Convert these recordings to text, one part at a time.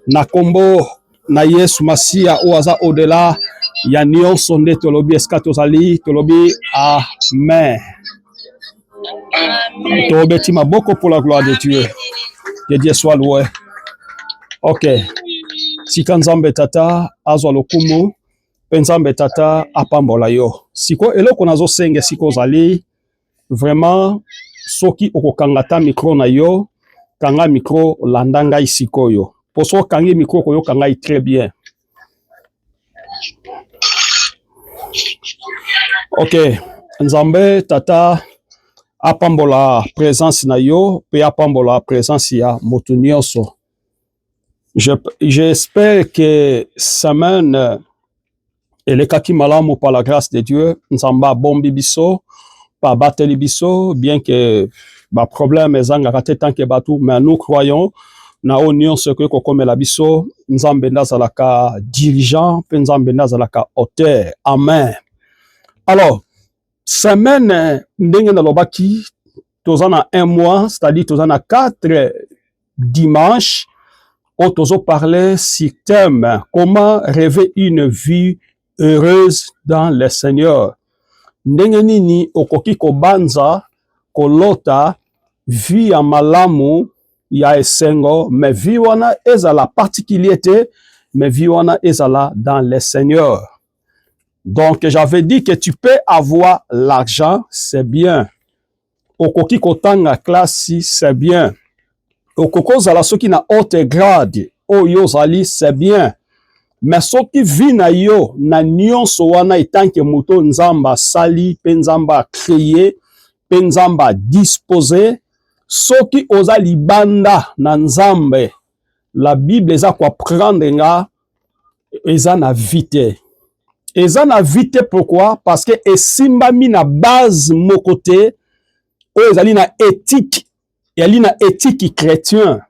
na kombo na Yesu Masiya oyo aza odela ya nionso, nde tolobi esika tozali, tolobi amen. Tobeti maboko pour la gloire de Dieu. Que Dieu soit loué. Ok, sika Nzambe Tata azwa lokumu mpe Nzambe Tata apambola yo. Siko eloko nazosenga esika ozali Vraiment soki okokanga ta micro na yo, kanga micro landa ngai sikoyo. Po so kangi micro koyoka ngai très bien. Ok, Nzambe tata apambola presence na yo pe apambola presence ya moto nyonso. J'espère je que semaine euh, elekaki malamu par la grâce de Dieu, Nzambe abombi biso, babateli biso, bien que ba problème ezangaka te tant que bato, mais nous croyons na oyo nyonso ekoki kokomela biso, Nzambe nde azalaka dirigeant mpe Nzambe nde azalaka auteur. Amen. Alors, semaine ndenge nalobaki toza na un mois c'est-à-dire toza na quatre dimanche oyo tozo parle sur thème comment rêver une vie heureuse dans le seigneur ndenge nini okoki kobanza kolota vie ya malamu ya esengo mais vie wana ezala particulier te mais vie wana ezala dans le seigneur Donc j'avais dit que tu peux avoir l'argent, c'est bien. Okoki kotanga classe, c'est bien. Okoki ozala soki na haute grade oyo ozali, c'est bien. Mais soki vie na yo na nyonso wana etanke moto Nzambe asali mpe Nzambe a créer mpe Nzambe a disposer, soki oza libanda na Nzambe La Bible eza ko apprendre nga eza na vie te. Eza na vie te pourquoi? Parce que esimbami na base moko te oyo ezali na ethique, ezali na ethique chrétien.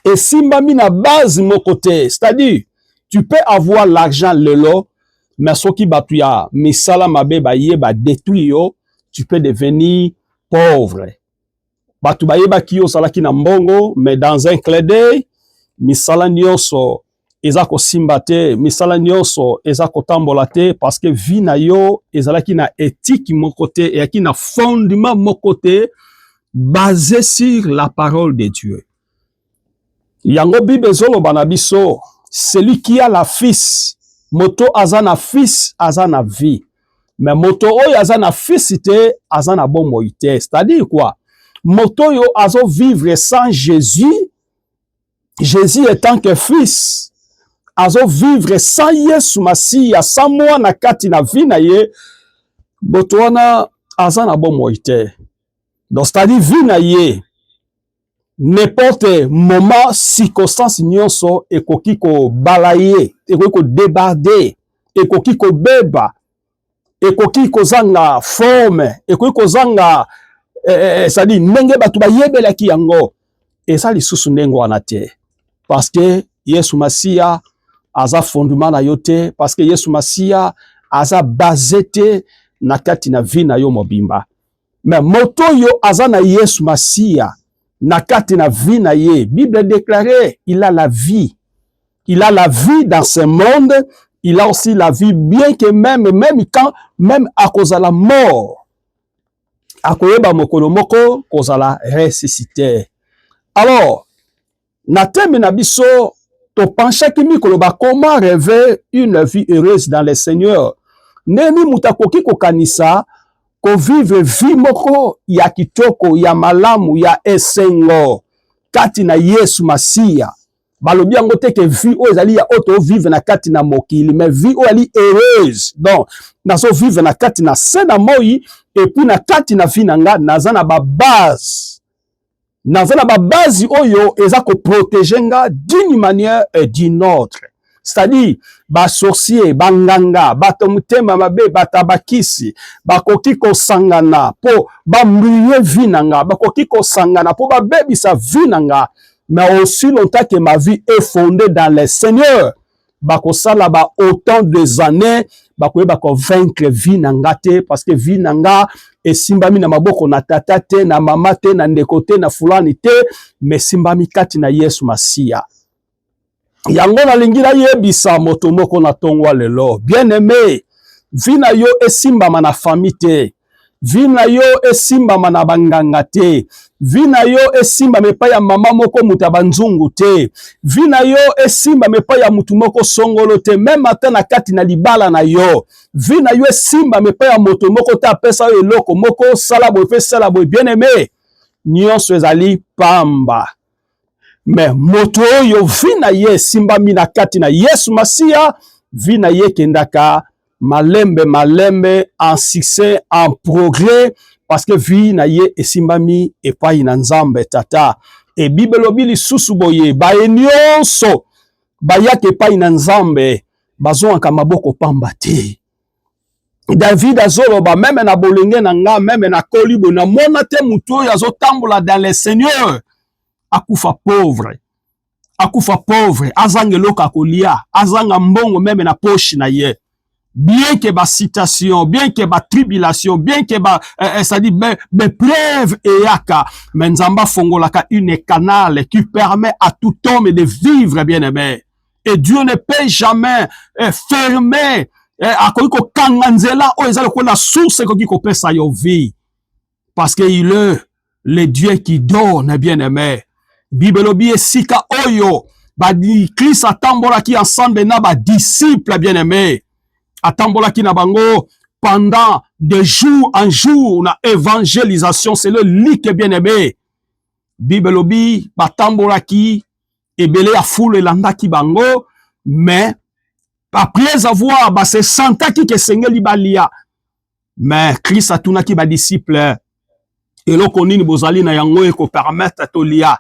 Esimbami na base moko te. C'est-à-dire tu peux avoir l'argent lelo mais soki batu ya misala mabe baye ba détruire yo, tu peux devenir pauvre. bato bayebaki yo ozalaki na mbongo, mais dans un clin d'oeil misala nyonso eza kosimba te, misala nyonso eza kotambola te, parce que vie na yo ezalaki na ethique moko te, eyaki na fondement moko te basé sur la parole de Dieu. Yango Bible ezoloba na biso celui qui a la fils moto aza na fils aza na vie mais moto oyo aza na fils te aza na bomoi te c'est-à-dire quoi moto oyo azo vivre sans Jésus Jésus étant que fils azo vivre sans Yesu Masiya sans mwana kati na vie na ye moto wana aza na bomoi te donc c'est-à-dire vie na ye N'importe moment circonstance nyonso ekoki kobala ye, ekoki ko debarder, ekoki kobeba, ekoki kozanga forme, ekoki kozanga eh, eh, eh sadi ndenge bato bayebelaki yango eza lisusu ndenge wana te, parce que Yesu Masiya aza fondement na yo te, parce que Yesu Masiya aza base te na kati na vie na yo mobimba. Mais motoyo azana Yesu Masiya na kati na vie na ye. Bible déclare il a la vie. Il a la vie dans ce monde, il a aussi la vie bien que même même quand même akozala mort. Akoyeba mokolo moko kozala ressuscité. Alors Na teme na biso, topanshaki mi koloba comment rever une vie heureuse dans le Seigneur. Neni moto akoki kokanisa kovivre vie moko ya kitoko, ya malamu, ya esengo kati na Yesu Masiya. balobi yango te ke vie oyo ezali ya oyo tovivre na kati na mokili mais vie oyo ali heureuse donc nazovivre na kati na se na moi epuis na kati na vie na nga naza na babase naza na babazi oyo eza koprotege nga d'une manière et d'une autre c'est-à-dire basorcier banganga bato motema mabe bato ya bakisi bakoki kosangana mpo bambrie vi na nga bakoki kosangana mpo babebisa vi na nga mais aussi longtemps que ma vie est fondée dans le seigneur bakosala ba autant des années bakoyeba ko vaincre vie na nga te parce que vie na nga esimbami na maboko na tata te na mama te na ndeko te na fulani te me esimbami kati na yesu masiya yango nalingi nayebisa moto moko na ntongwa lelo bien aime vi na yo esimbama na fami te vi na yo esimbama na banganga te vi na yo esimbama epai ya mama moko moto ya banzungu te vi na yo esimbama epai ya moto moko songolo te meme ata na kati na libala na yo vi na yo esimbama epai ya moto moko te apesa yo eloko moko osala boye mpe esala boye bien aime nyonso ezali pamba me moto oyo vi na ye esimbami na kati na Yesu Masiya, vi na ye ekendaka malembe malembe, en succès, en progrès, parce que vi na ye esimbami epai na Nzambe Tata. E Bible elobi lisusu boye, baye nyonso bayaka epai na Nzambe bazongaka maboko pamba te. David azoloba meme na bolenge na nga meme na kolibo na mona te mutu oyo azotambola dans le Seigneur akufa pauvre akufa pauvre azanga eloko akolia azanga mbongo meme na poche na ye bien que ba citation bien que ba tribulation bien que ba eh, eh, c'est-à-dire be, be preuve eyaka mais nzambe afongolaka une canal qui permet à tout homme de vivre bien aimé et Dieu ne peut jamais eh, fermer eh, akoki kokanga nzela oyo eza lokola source ekoki kopesa yo vie parce que il est le Dieu qui donne bien aimé Bible elobi esika oyo Christ atambolaki ensemble na ba disciples bien aimé atambolaki na bango pendant de jour en jour na évangélisation c'est le lit bien aimé Bible elobi batambolaki ebele ya fulu elandaki bango mais après avoir base sentaki kesengeli balia mais Christ atunaki badisiple eloko nini bozali na yango ekopermetre tolia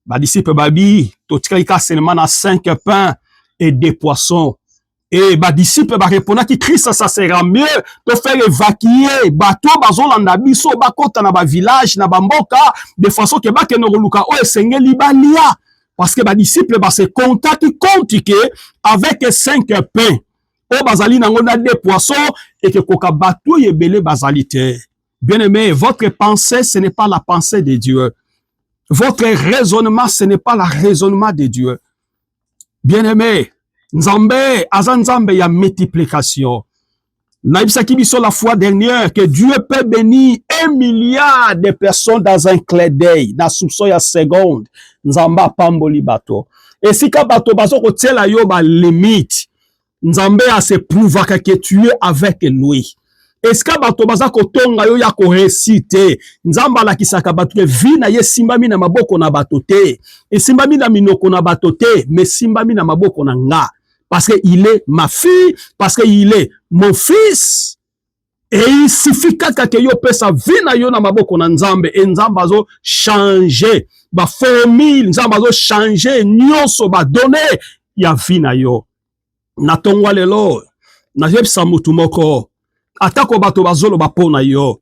badisiple babi totikaki ka selema na 5 pain et de poisson Et ba disciples ba répondaki Christ ça sera mieux de faire évacuer bato bazolanda biso bakota na ba village na ba mboka de façon que bakende koluka oyo esengeli balia parce que ba disciples ba se contaki compte que avec cinq pains oyo bazali nango na deux poissons et que koka bato oyo ebele bazali te bien aimé votre pensée ce n'est pas la pensée de Dieu votre raisonnement ce n'est pas la raisonnement de Dieu bien aime nzambe aza nzambe ya multiplication nayebisaki biso la fois dernière que dieu peut bénir un milliard de personnes dans un clé d'oeil na soupçon ya seconde nzambe apamboli bato esika bato baza kotiela yo balimite Nzambe a se prouvaka que tu es avec lui. Esika bato baza kotonga yo ya koresi te. Nzambe alakisaka bato ke vi na ye esimbami na maboko na bato te, esimbami na minoko na bato te, me esimbami na maboko na nga parce que il est ma fille, parce que il est mon fils. Et il suffit kaka que yo pesa vie na yo na maboko na Nzambe et Nzambe azo changer ba formule, Nzambe azo changer nyoso ba données ya vie na yo. Na tongwa lelo na yebisa mutu moko atako bato bazoloba mpo na yo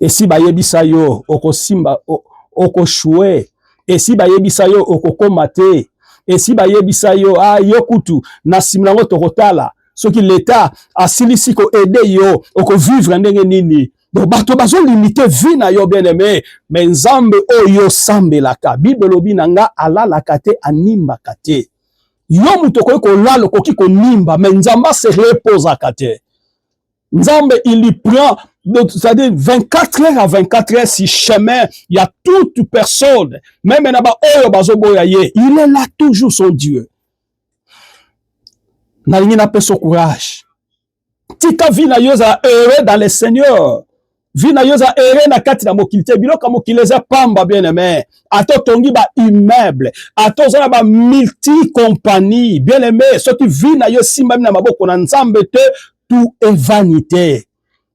esi bayebisa yo okosimba okoshue esi bayebisa yo okokoma te esi bayebisa yo a ah, yo kutu na nsima yango tokotala soki leta asilisi koede yo okovivre ndenge nini donc bato bazolimite vi na yo bien aime me nzambe oyo osambelaka bible elobi na nga alalaka te animbaka te yo moto okoki kolala okoki konimba me nzambe ase reposaka te Nzambe il lui prend c'est-à-dire 24 heures à 24 heures si chemin il y a toute personne même na ba oyo bazoboya ye il est là toujours son Dieu nalingi napesa courage tika vie na yo ezala heureux dans le Seigneur vie na yo eza ere na kati na mokili te biloko ya mokili eza pamba bien aime ata otongi ba immeuble ata oza na ba multi compagnie bien aime soki vie na yo esimbami na maboko na nzambe te tout est vanité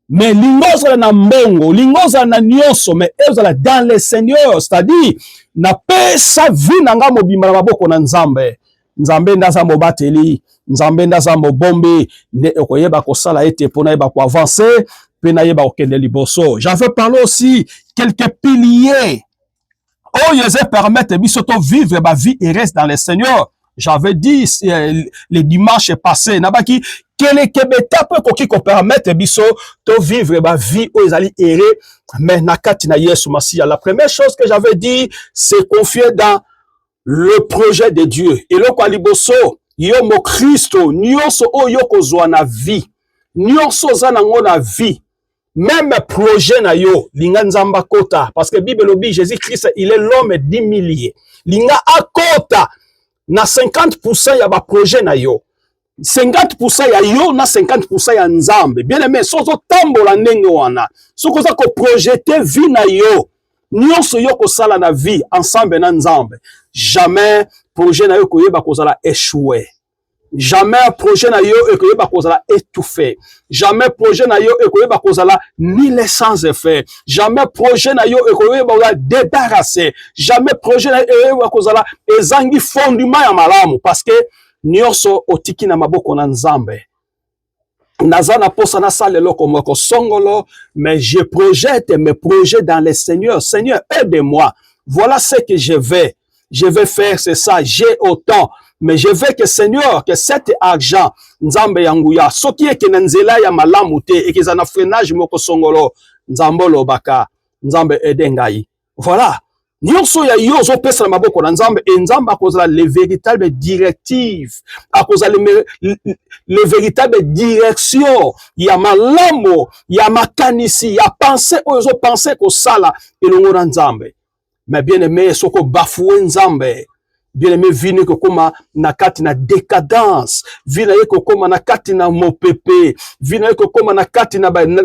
mais linga ozala na mbongo linga ozala na nyonso mais ezala dans le seigneur c'est-à-dire napesa vie na ngai mobimba na maboko na nzambe nzambe nde aza mobateli nzambe nde aza mobombi nde ekoyeba kosala ete mpo nayeba koavanse mpe nayeba kokende liboso j'avais parle aussi quelques piliers oyo eze permettre biso to vivre ba vie heureuse dans le seigneur j'avais dit euh, le dimanche passé nabaki kelekebeta mpo ekoki kopermettre biso to vivre ba vie oyo ezali heureux mais na kati na yesu masiya la première chose que j'avais dit c'est confier dans le projet de dieu eloko ya liboso yo mokristo nyonso oyo okozwa na vie nyonso oza nango na vie meme projet na yo linga nzambe akota parce que bible elobi jésus christ il est l'homme du millier linga akota na 50 pourcent ya baprojet na yo 50% ya yo na 50% ya Nzambe. Bien aimé, so ozo tambola ndenge wana, soki oza ko projeter vie na yo, nyonso yo kosala na vie ensemble na Nzambe, jamais projet na yo koyeba kozala échouer. Jamais projet na yo ekoyeba kozala étouffé. Jamais projet na yo ekoyeba kozala nul sans effet. Jamais projet na yo ekoyeba kozala débarrassé. Jamais projet na yo ekoyeba kozala ezangi fondement ya malamu parce que nyonso otiki na maboko na Nzambe. Naza na posa na sala eloko moko songolo, mais je projette mes projets dans le Seigneur. Seigneur, aide-moi. Voilà ce que je veux. Je veux faire c'est ça, j'ai autant. Mais je veux que Seigneur, que cet argent, Nzambe ya nguya, soki eke na nzela ya malamu te, eke za na freinage moko songolo, Nzambe olobaka, Nzambe aide ngai. Voilà. nyonso ya yo ozopesa na maboko na nzambe e nzambe akozala le véritable directive akozala le, le véritable direction ya malamu ya makanisi ya pense oyo ozopense kosala elongo na nzambe ma bien aime soki obafoue nzambe bien aime vie naye kokoma na kati na decadence vie naye kokoma na kati na mopepe vie naye kokoma na kati na, ba, na,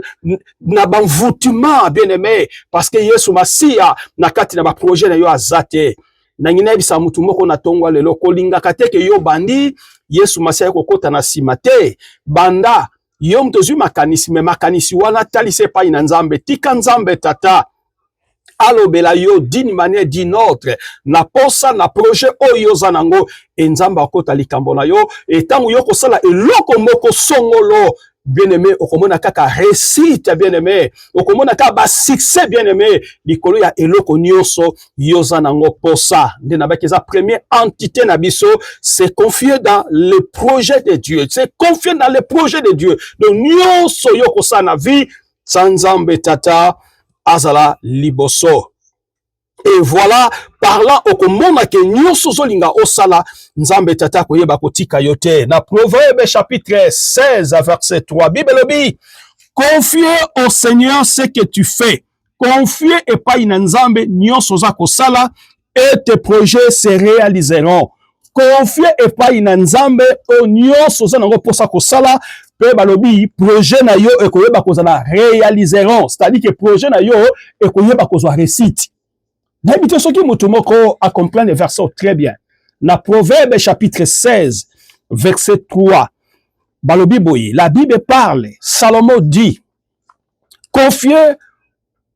na banvoutement bien aime parce que yesu masiya na kati na baprojet na yo aza te nangi nayebisa motu moko na ntongwa lelo kolingaka te ke yo bandi yesu masiya ye kokota na nsima te banda yo moto ozwi makanisi me makanisi wana talisa epai na nzambe tika nzambe tata alobela yo d'une manière d'une autre na posa na projet oyo oza nango e nzambe akota likambo na yo e ntango yo kosala eloko moko songolo bien aimé okomona kaka réussite bien aimé okomona kaka ba succès bien aimé likolo ya eloko nyonso yo oza nango posa nde nabaki eza première entité na biso c'est confié dans le projet de dieu c'est confié dans le projet de dieu donc nyonso yo kosala na vie sa nzambe tata azala liboso et voilà par là okomona ke nyonso ozolinga osala nzambe tata akoyeba kotika yo te na proverbe chapitre 16 verset 3 bible elobi confie au seigneur ce que tu fais confie epai na nzambe nyonso oza kosala et tes projets se réaliseront confie epai na nzambe oyo nyonso oza nango mposa kosala mpe balobi projet na yo ekoyeba kozala réaliseront c'est-à-dire que projet na yo ekoyeba kozwa réussite nayebi te soki moto moko acomprendre verset très bien na proverbe chapitre 16 verset 3 balobi boye la bible parle salomon dit confie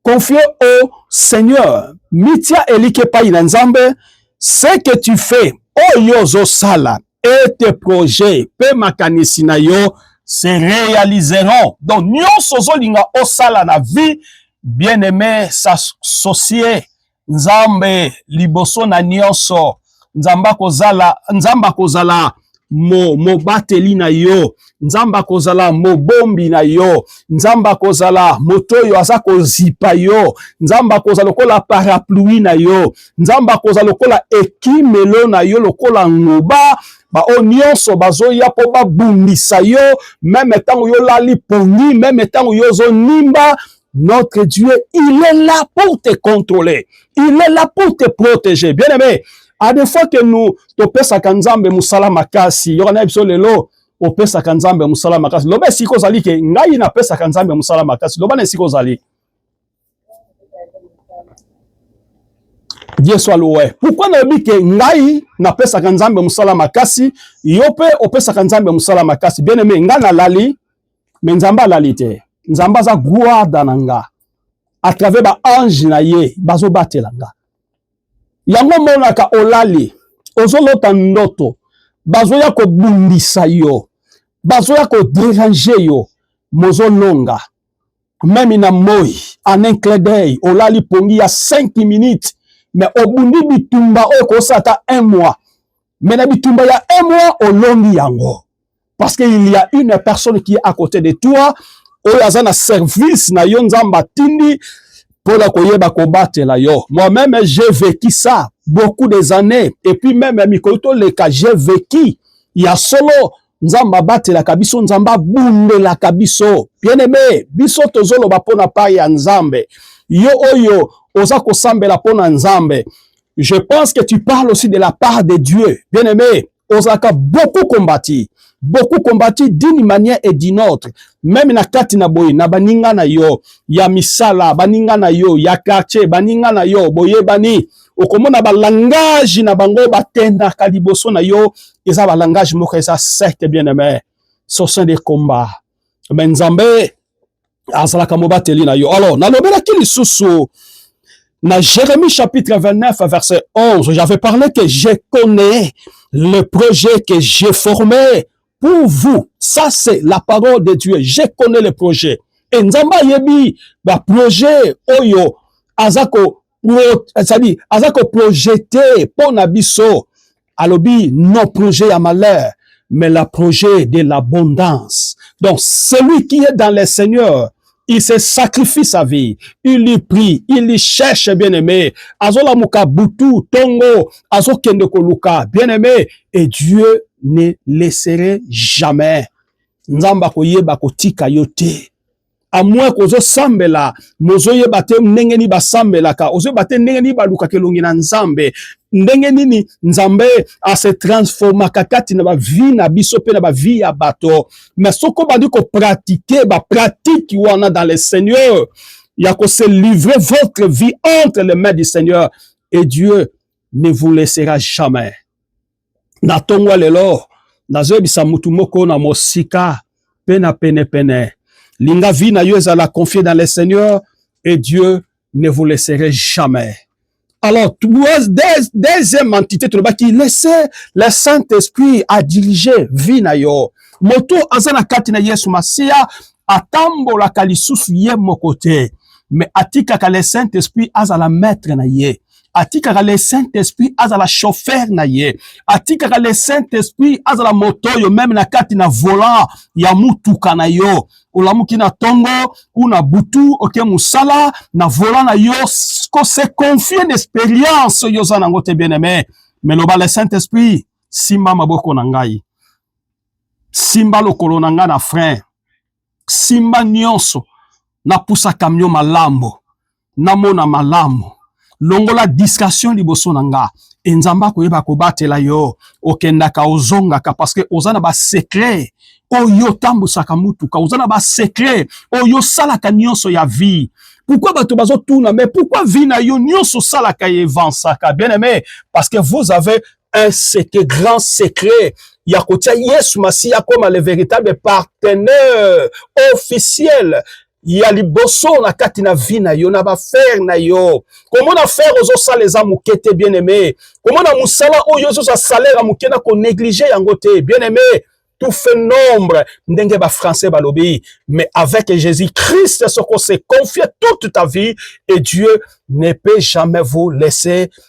confie au seigneur mitia eliki epai na nzambe ce que tu fais oyo ozosala ete projet mpe makanisi na yo se réaliseront donc nyonso ozolinga osala na vie bien aimé s'associer Nzambe liboso na nyonso, Nzambe akozala Nzambe akozala mo, mobateli na yo nzambe akozala mobombi na yo nzambe akozala moto oyo aza kozipa yo nzambe akozala lokola parapluie na yo nzambe akozala lokola ekimelo na yo lokola nguba baoyo nyonso bazoya mpo babundisa yo meme ntango yolali pongi meme ntango yo ozonimba Notre Dieu, il est là pour te contrôler. Il est là pour te protéger. Bien aimé, à des fois que nous topesaka Nzambe musala makasi, yoko na biso lelo opesaka Nzambe musala makasi. Loba esika ozali ke ngai napesaka Nzambe musala makasi. Loba na esika ozali. Dieu soit loué. Pourquoi nalobi ke ngai napesaka Nzambe musala makasi, yo pe opesaka Nzambe musala makasi. Bien aimé, ngai nalali mais nzambe alali te nzambe aza guarda na nga à travers ba ange na ye bazobatela nga yango omonaka olali ozolota ndoto bazoya kobundisa yo bazoya koderange yo mozolonga meme na moi en un clé d'oeil olali pongi ya 5 minutes mais obundi bitumba oyo kosala ata un mois mais na bitumba ya un mois olongi yango parce que il y a une personne qui est à côté de toi oyo aza na service na yo nzambe atindi mpo na koyeba kobatela yo moi même j'ai vécu ça beaucoup des années et puis même mikolo toleka j'ai vécu ya solo nzambe abatelaka biso nzambe abundelaka biso bien aime biso tozoloba mpo na pai ya nzambe yo oyo oza kosambela mpo na nzambe je pense que tu parles aussi de la part de dieu bien aime ozalaka beaucoup combati beaucoup combati d'une manière et d'une autre meme na kati na boye na baninga na yo ya misala baninga na yo ya quartier baninga na yo boyebani okomona balangage na bango batendaka liboso na yo eza balangage moko eza sec bien aime ce sont des combats me Nzambe azalaka mobateli na yo. Alors nalobelaki lisusu na Jérémie chapitre 29 verset 11, j'avais parlé que je connais le projet que j'ai formé pour vous. Ça c'est la parole de Dieu. Je connais le projet. Et Nzamba yebi ba projet oyo azako cestadire aza koprojete mpo na biso alobi non projet ya malheur mais la projet de l'abondance donc celui qui est dans le seigneur il se sacrifie sa vie, il y prie, il y cherche, bien-aimé. Azola muka butu, tongo, azo kende koluka, bien-aimé. Et Dieu ne laisserait jamais. Nzamba koyeba kotika yote. amwe kozosambela mozoyeba te ndenge nini basambelaka ozoyeba te ndenge nini balukaka elongi na nzambe ndenge nini nzambe ase transformaka kati na bavi na biso mpe na bavi ya bato me soki obandi kopratike bapratike wana dans le seigneur ya kose livrer votre vie entre les mains du seigneur et dieu ne vous laissera jamais Na ntongo ya lelo, nazoyebisa motu moko na mosika mpe na penepene, linga vie na yo ezala confie dans le Seigneur et Dieu ne vous laisserai jamais. Alors, deuxième entité, tolobaki laissez le Saint-Esprit à diriger vie na yo. Moto aza na kati na Yesu Masiya atambolaka lisusu ye moko te, mais atikaka le Saint-Esprit azala maître na ye. atikaka le saint esprit azala chauffeur na ye atikaka le saint esprit azala moto oyo meme na kati na volant ya motuka na yo olamuki na tongo ou na butu oke mosala na volant na yo ko se confie na experience oyo oza nango te bien aime me loba le saint esprit simba maboko na ngai simba lokolo na ngai na frein simba nyonso napusa kamio malambo namona malamu longola discussion liboso na nga e nzambe akoyeba kobatela yo okendaka ozongaka parce que oza na basecret oyo otambwisaka mutuka oza na basecret oyo osalaka nyonso ya vie pourquoi bato bazotuna mais pourquoi vie na yo nyonso osalaka evansaka bien aimé parce que vous avez un secret grand secret ya kotia yesu masiya akoma le véritable partenaire officiel ya liboso na kati na vie na yo na ba faire na yo komona faire ozosala eza moke te bien aimé komona mosala oyo ozozwa salaire ya moke na konéglige yango te bien aimé tout fait nombre ndenge ba français balobi mais avec jésus christ soko se confie toute ta vie et dieu ne peut jamais vous laisser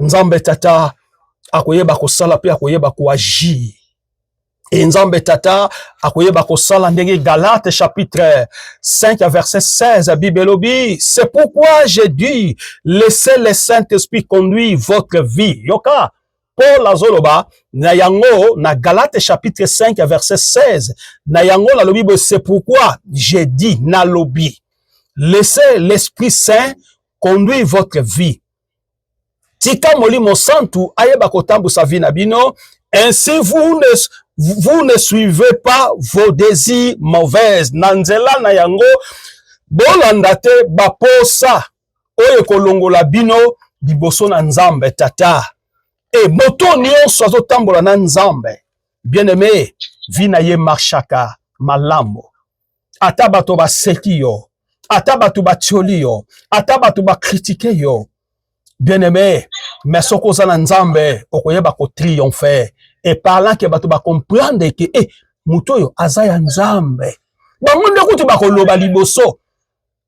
Nzambe Tata akoyeba kosala mpe akoyeba koagir e Nzambe Tata akoyeba kosala ndenge Galate chapitre 5 verset 16 Bible elobi c'est pourquoi j'ai dit laissez le Saint-Esprit conduire votre vie yoka Paul azoloba na yango na Galate chapitre 5 verset 16 na yango nalobi boye c'est pourquoi j'ai dit nalobi laissez l'Esprit Saint conduire votre vie tika molimo santu ayeba kotambusa vie na bino ainsi vous ne, vous ne suivez pas vos désirs mauvaises na nzela na yango bolanda te baposa oyo ekolongola bino liboso na nzambe tata e moto nyonso azotambola na nzambe bien aime vi na ye marchaka malamu ata bato baseki yo ata bato batioli yo ata bato bakritike yo bien aimé me soki oza na nzambe okoyeba kotriomphe eparlant ke bato bacomprendre ke e eh, moto oyo aza ya nzambe bango nde kutu bakoloba liboso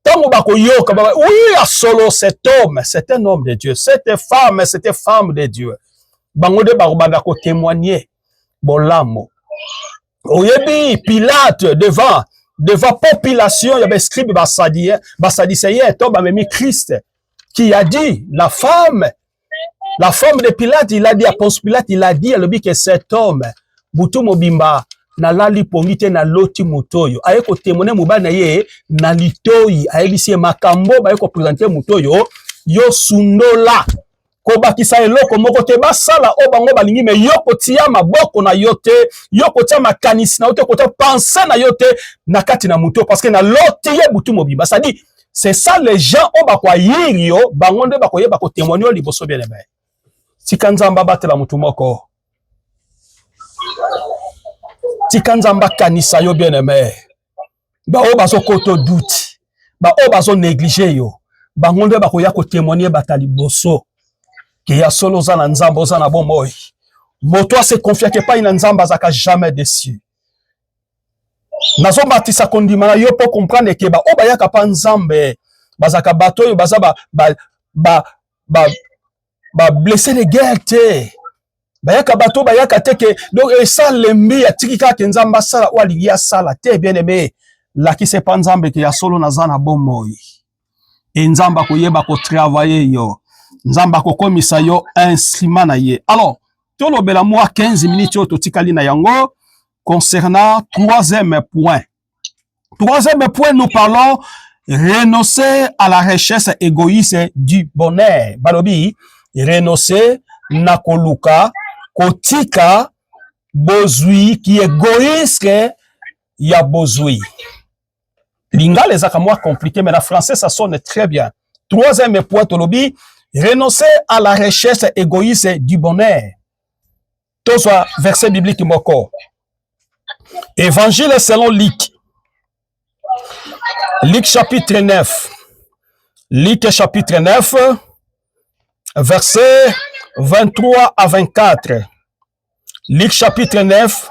Tango bakoyoka ba oui ya solo cet homme c'est un homme de Dieu cette femme c'était femme de Dieu bango nde bakobanda ko témoigner bolamu oyebi Pilate devant devant population ya bascribe basadien basadiseyen to bamemi Christ qui a dit la femme La femme de Pilate, il a dit à Ponce Pilate, il a dit, à l'objet que cet homme, Boutou Mobimba, n'a la lipongi te na loti mutoyo. Aye ko témoigner mobile na ye, na litoyi, aye bisi ye makambo, ba ye ko présenter mutoyo, yo sundola. Ko bakisa eloko moko te ba sala o bango balingi me yo ko tia maboko na yo te yo ko tia makanisi na yo te ko tia penser na yo te na kati na muto parce que na loti ye butu mobimba c'est à dire c'est ça les gens oyo bakoyiri yo bango nde bakoyeba kotemoigne yo liboso bien ebe tika nzambe abatela motu moko tika nzambe akanisa yo bien aime baoyo bazokota doute baoyo bazonéglige yo bango nde bakoya kotemoigne bata liboso ke ya solo oza na nzambe oza na bomoi moto asekonfiaka epai na nzambe azalaka jamais déçu nazomatisa kondima na yo mpo comprendre ke baoyo bayaka mpa nzambe bazalaka bato oyo baza ba, ba, ba, ba, ba blesse de guerre te bayaka bato bayaka te ke donc esalembi atiki kaka ke nzambe asala oyo alingi asala te bien aime lakisa epa nzambe ke ya solo naza na bomoi e nzambe akoyeba kotravaille yo nzambe akokomisa yo insima na ye alors tolobela mwa 15 minutes oyo totikali na yango concernant troisième point troisième point nous parlons renoncer à la recherche égoïste du bonheur balobi renoncer na koluka kotika bozwi ki egoïste ya bozwi Lingala ezaka mwa compliqué mais na français ça sonne très bien. Troisième point tolobi renoncer à la recherche égoïste du bonheur. Tozwa verset biblique moko. Évangile selon Luc. Luc chapitre 9. Luc chapitre 9 verset 23 à 24. Luc chapitre 9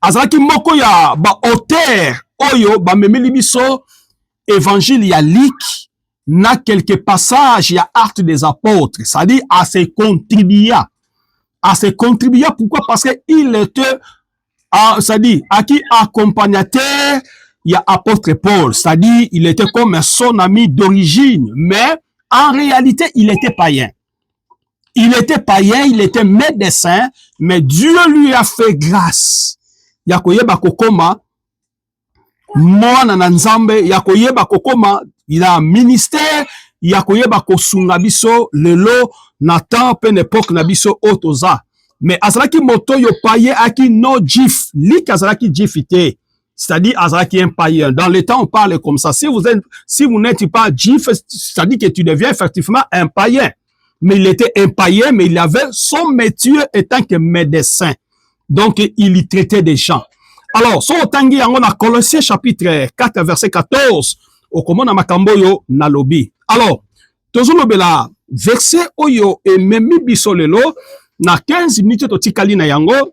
azalaki moko ya ba auteur oyo bamemeli biso evangile ya liki na quelques passages ya Actes des Apôtres, c'est-à-dire à se contribuer. À se contribuer, pourquoi Parce qu'il était, c'est-à-dire, à qui accompagnateur, il y a apôtre Paul, c'est-à-dire, il était comme son ami d'origine, mais en réalité, il était païen. Il était païen, il était médecin, mais Dieu lui a fait grâce ya koyeba kokoma mwana na Nzambe, ya koyeba kokoma na ministère, ya koyeba kosunga biso lelo na temps pe na epoque na biso oyo toza. Mais azalaki moto yo païen aki no jif, lik azalaki jif te. c'est-à-dire Azaki un païen. Dans le temps, on parle comme ça. Si vous êtes, si vous n'êtes pas juif, c'est-à-dire que tu deviens effectivement un païen. Mais il était un païen, mais il avait son métier étant que médecin. Donc, il y traitait des gens. Alors, so tangi yango na Colossiens chapitre 4 verset 14, okomona makambo yo na lobi. Alors, tozolobela verset oyo ememi biso lelo na 15 minutes totikali na yango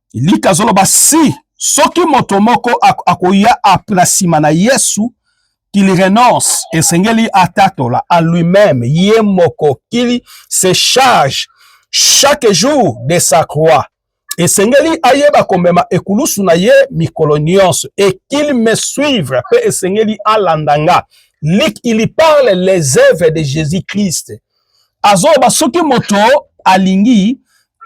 Lika azoloba si soki moto moko akoya na nsima na Yesu qu'il renonce esengeli atatola à lui-même ye moko qu'il se charge chaque jour de sa croix esengeli ayeba komema ekulusu na ye mikolo nyonso et qu'il me suivre mpe esengeli alanda nga lik il parle les œuvres de Jésus-Christ azoloba soki moto alingi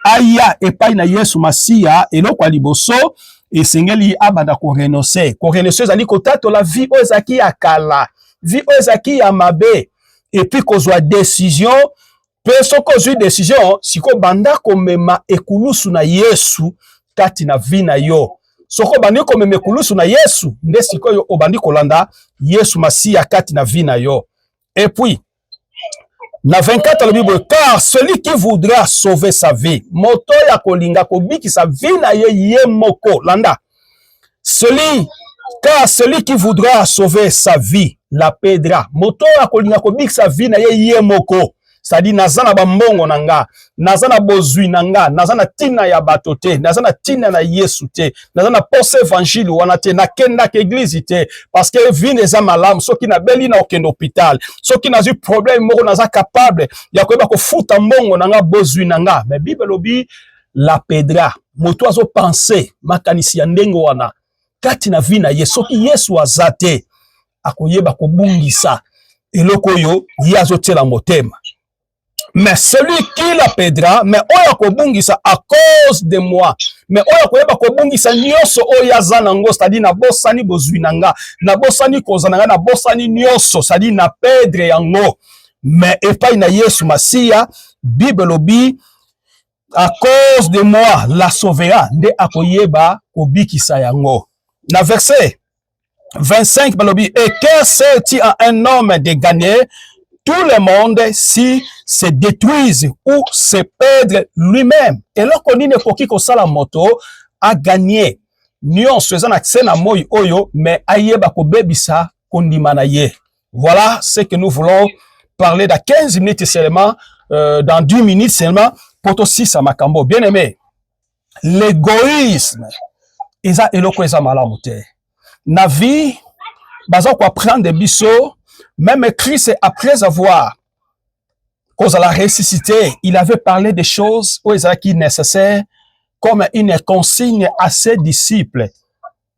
aya epai na Yesu Masiya, eloko ya liboso esengeli abanda korenonse. Korenonse ezali kotatola vie oyo ezalaki ya kala, vie oyo ezalaki ya mabe, epuis kozwa decision mpe soki ozwi decision sikoyo banda komema ekulusu na Yesu kati na vie na yo. Soki obandi komema ekulusu na Yesu, nde sikoyo obandi kolanda Yesu Masiya kati na vie na yo. Epuis na 24 alobi boye car celui qui voudra sauver sa vie moto oyo akolinga kobikisa vie na ye ye moko landa celui car celui qui voudra sauver sa vie la pedra moto oyo akolinga kobikisa vie na ye ye moko c'est-à-dire naza na bambongo na nga naza na bozwi na nga naza na ntina ya bato te naza na ntina na yesu te naza na posa evangile wana te nakendaka eglize te parce que vine eza malamu soki nabeli na okende hopital soki nazwi problème moko naza capable ya koyeba kofuta mbongo na nga bozwi na nga mais bible elobi la pedra moto azopense makanisi ya ndenge wana kati na vi na ye soki yesu aza te akoyeba kobungisa eloko oyo ye azotyela motema mais celui qui la pedra mais oyo akobungisa à cause de moi mais oyo akoyeba kobungisa nyonso oyo aza nango c'est-à-dire nabosani bozwi na nga nabosani kozwa na nga nabosani nyonso c'est-à-dire na pedre yango mais epai na yesu masiya bible elobi à cause de moi la sauvera nde akoyeba kobikisa yango na verset 25 balobi et que c'est à un homme de gagner tout le monde si se détruise ou se perdre lui-même eloko nini ekoki kosala moto aganye nyonso eza na se na moi oyo me ayeba kobebisa kondima na ye voilà ce que nous voulons parler dans 15 minutes seulement euh, dans 10 minutes seulement poto 6 makambo bien aimé L'egoisme eza eloko eza malamu te na vie, baza ko apprendre biso meme Christ après avoir kozala ressuscité, il avait parlé des choses oyo ezalaki nécessaire comme une consigne à ses disciples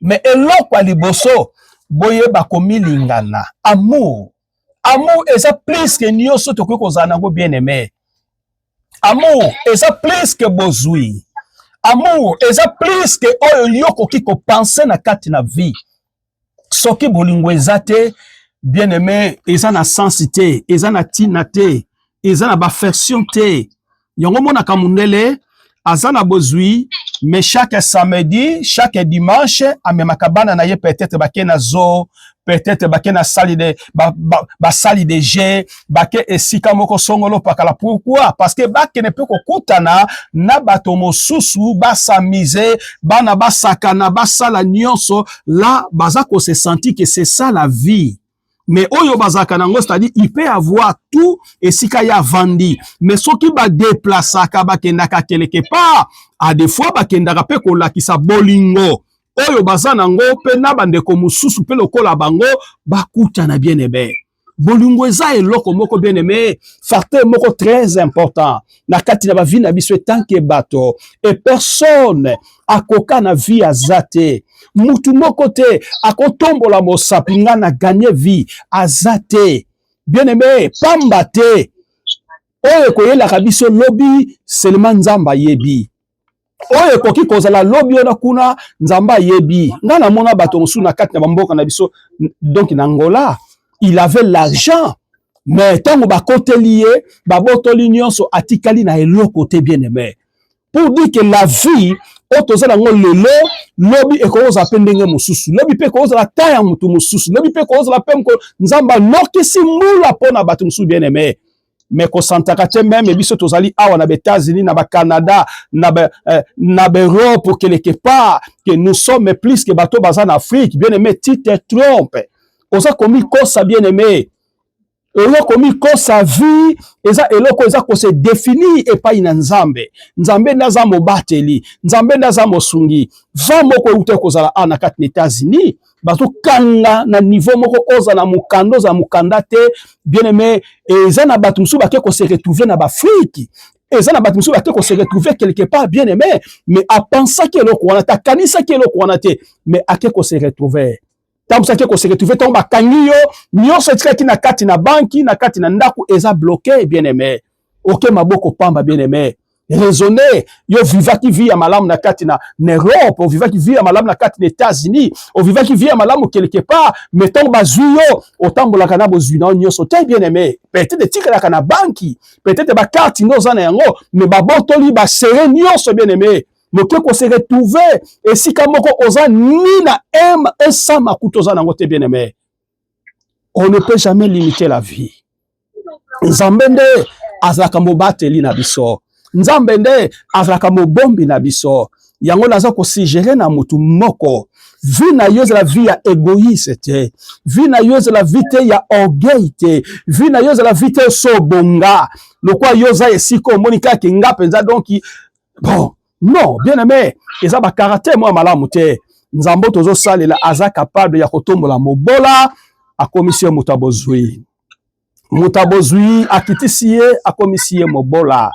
mais eloko ya liboso boyeba komilingana amour amour eza plus ke nyonso tokoki kozala nango bien aime amour eza plus ke bozwi amour eza plus ke oyo yo okoki kopense na kati na vie soki bolingo eza te bien aime eza na sensi te eza na ntina te eza na baversion te yango monaka mundele aza na bozwi mais chaque samedi chaque dimanche amemaka bana na ye peut-être bake na zoo peut-être bake na sali de basali ba, ba de jeu bake esika moko songolo pakala pourquoi parce que bakende mpe kokutana na bato mosusu basamise bana basakana basala nyonso la baza kose sentir que c'est ça la vie mais oyo bazalaka nango c'est-à-dire il peut avoir tout esika ya vandi mais soki badeplasaka bakendaka keleke part a des fois bakendaka mpe kolakisa bolingo oyo baza nango mpe na bandeko mosusu mpe lokola bango bakutana bien ebe bolingo eza eloko moko bien aime facteur moko très important na kati na ba vie na biso etanke bato et personne akoka na vie aza te mutu moko te akotombola mosapi nga na gagne vie aza te bien aime pamba te oyo ekoyelaka biso lobi selema nzambe ayebi oyo ekoki kozala lobi wana kuna nzambe ayebi ngai namona bato mosusu na kati na bamboka na biso donk na angola il avait l'argent mais ntango bakoteli ye babotoli nyonso atikali na eloko te bien aime pour dire que la vie oyo toza nango lelo lobi ekoki kozala mpe ndenge mosusu lobi mpe ekoki kozala ta ya motu mosusu lobi mpe ekoki kozala mpe nzambe anokisi mbula mpo na bato mosusu bien aime me kosantaka te meme biso tozali awa na baetats-unis na bacanada na baeurope eh, quelque part que nous sommes plus que bato baza na afrique bien aimé tu te trompe oza komikosa bien aimé oyo komikosa vie eza eloko eza kose defini epai na nzambe nzambe nde aza mobateli nzambe nde aza mosungi va moko euta ekozala awa na kati na etats-unis bazokanga na niveau moko oza na mokanda oza mokanda te bien aimé eza na bato mosusu bake kose retrouve na baafrike eza na bato mosusu bake kose retrouve quelque part bien aimé mais apensaki eloko wana te akanisaki eloko wana te mais ake kose retrouve ntango mosusu ake kose retrouve ntango bakangi yo nyonso etikaki na kati na banki na kati na ndako eza bloke bien aimé oke maboko pamba bien aime raisonne yo ovivaki vie ya malamu na kati na europe ovivaki vie ya malamu na kati na états-unis ovivaki vie ya malamu quelque part mais ntango bazwi yo otambolaka na bozwi na yo nyonso te bien aime peut-être etikalaka na banki peut-être bakarte nde oza na yango mais babotoli basere nyonso bien aime moke kose retrouve esika moko oza ni na m esama kutu oza na yango te bien aime on ne peut jamais limiter la vie. Nzambe nde azalaka mobateli na biso, Nzambe nde azalaka mobombi na biso. Yango naza kosigere na motu moko vie na yo ezala vie ya egoïste te vie na yo ezala vie te ya orgueil te vie na yo ezala vie te osobonga lokola yo oza esika omoni kaka nga mpenza donki bon non bien aime eza ba caractère mwa malamu te nzambo tozosalela aza capable ya kotombola mobola akomisi ye moto ya bozwi moto ya bozwi akitisi ye akomisi ye mobola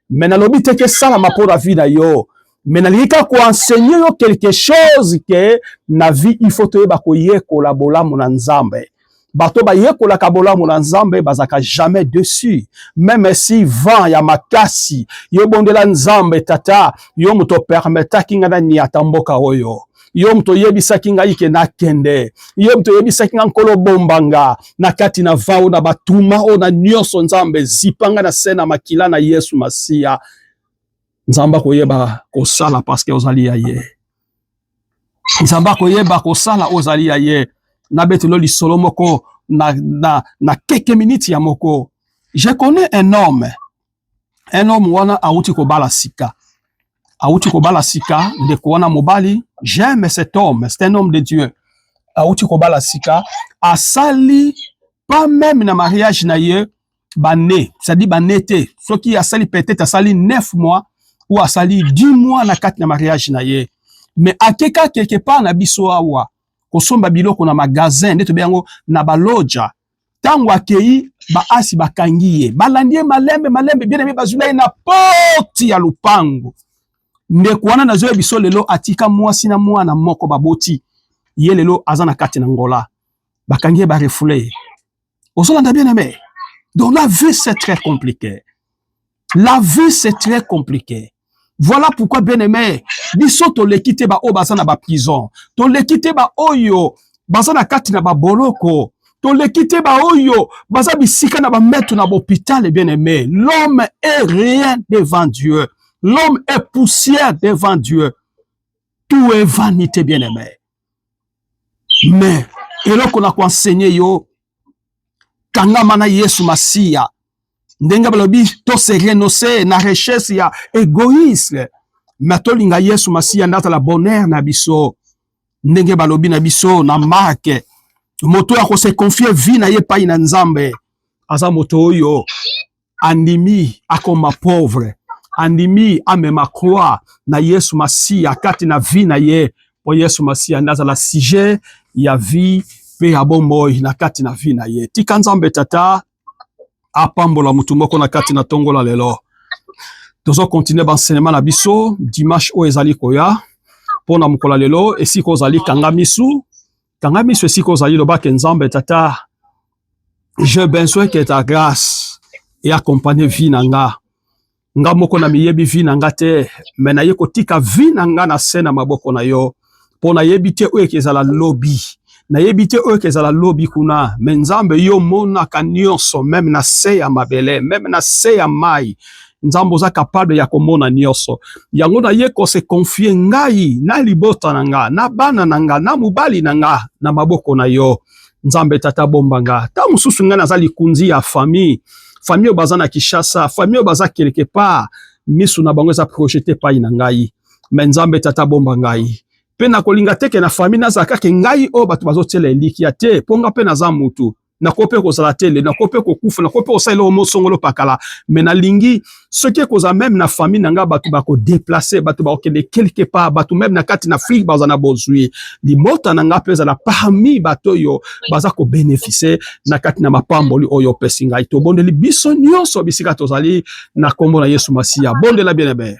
me nalobi te ke salama mpo na vie na yo me nalingi kaka koenseigne yo quelque chose ke na vie il faut toyeba koyekola bolamu na nzambe bato bayekolaka bolamu na nzambe bazalaka jamais dessus meme si vent ya makasi yo bondela nzambe tata yo moto opermetaki ngai na niata mboka oyo yo moto oyebisaki ngai ke nakende yo moto oyebisaki ngai nkolo bomba nga na kati na vau na batuma oyo na nyonso nzambe zipa ngai na se na makila na yesu masiya nzambe akoyeba kosala parceke ozali ya ye Nzambe akoyeba kosala ozali ya ye. Nabetelo lisolo moko na, na, na keke miniti ya moko. Je connais un homme. Un homme wana awuti kobala sika. Awuti kobala sika ndeko wana mobali. J'aime cet homme, c'est un homme de Dieu. Awuti kobala sika, asali pas même na mariage na ye bane cestadi bane te soki asali peut-être asali 9 mois ou asali 10 mois na kati na mariage na ye mais akeka quelque part na biso awa kosomba biloko na magasin nde tobe yango na baloja ntango akei baasi bakangi ye balandi ye malembe malembe bien aime bazwila ye na porte ya lopango ndeko wana nazoya biso lelo atika mwasi na mwana moko baboti ye lelo aza na kati na ngola bakangi ye barefule ye ozolanda bien aime donc la vie c'est très compliqué la vie c'est très compliqué voilà pourquoi bien aime biso toleki te baoyo baza na baprison toleki te baoyo baza na kati na baboloko toleki te baoyo baza bisika na bametre na bopitale bien aime l'homme est rien devant dieu l'homme est poussière devant dieu tout est vanité bien aime mais eloko na koensegne yo kangama na yesu masiya ndenge balobi to se renonce na richesse ya egoïsme me tolinga yesu masiya nde azala bonheur na biso ndenge balobi na biso na marke moto ya kose confie vie na ye epai na nzambe aza moto oyo andimi akoma pauvre, andimi amema croix na Yesu Masiya kati na vie na ye, po Yesu Masiya nde azala sujet ya vie pe ya bomoi na kati na vie na ye. Tika Nzambe Tata apambola mutu moko na kati na tongola lelo. Tozo continuer ba enseignement na biso dimanche oyo ezali koya pona mokolo lelo, esika ozali kanga misu Kanga miso esika ozali, loba ke Nzambe Tata, je besoin que ta grâce e accompagne vie na nga. Nga moko na miyebi vie na nga te, mais naye kotika vie na nga na se na maboko na yo. Po nayebi te oyo ekezala lobi. Nayebi te oyo ekezala lobi kuna, mais Nzambe yo monaka nionso, meme na se ya mabele, meme na se ya mayi. Nzambe oza capable ya komona nioso. Yango na ye ko se confier ngai na libota na nga na bana na nga na mubali na nga na maboko na yo. Nzambe tata bomba nga. Ta mususu nga naza likunzi ya famille. Famille oyo baza na Kishasa, famille oyo baza quelque part, misu na bango eza projete pai na ngai. Mais Nzambe tata bomba ngai. Pe na kolinga teke na famille nazala kaka ngai oyo bato bazotiela elikia te, po nga pe naza mutu. nakoki mpe kozala te le nakoki mpe kokufa nakoki mpe kosala eloko mosongolo pakala me nalingi soki ekozala meme na famille na ngai bato bakodeplace bato bakokende quelque part bato meme na kati na afrike baza na bozwi libota na ngai mpe ezala parmi bato oyo baza kobeneficie na kati na mapamboli oyo opesi ngai tobondeli biso nyonso bisika tozali na nkombo na yesu masiya bondela bien ebele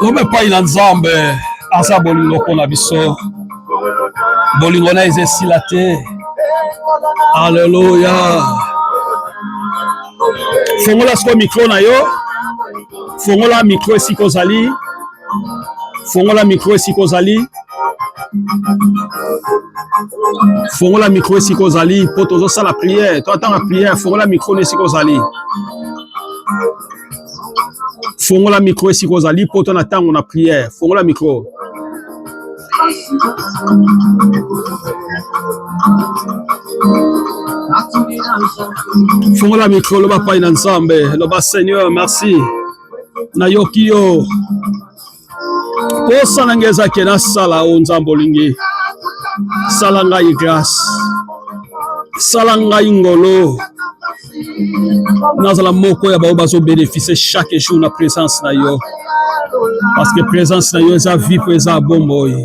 lobe epai na nzambe aza bolingo mpo na biso bolingo na eza esila te aleluya fongola siko mikro na yo fongola mikro esika ozali fongola mikro esika ozali fongola mikro esika ozali mpo tozosala priere to atanga priere fongola mikro na esika ozali fongola mikro esika ozali mpo to na ntango na priere fongola mikro fongola mikro loba pai na nzambe loba seigneur merci nayoki yo posa na ngai eza ke nasala o nzambe olingi sala ngai grâce sala ngai ngolo nazala moko ya baoyo bazobeneficie chaque jour na présence na yo parce que présence na yo eza vie mpo eza bomoi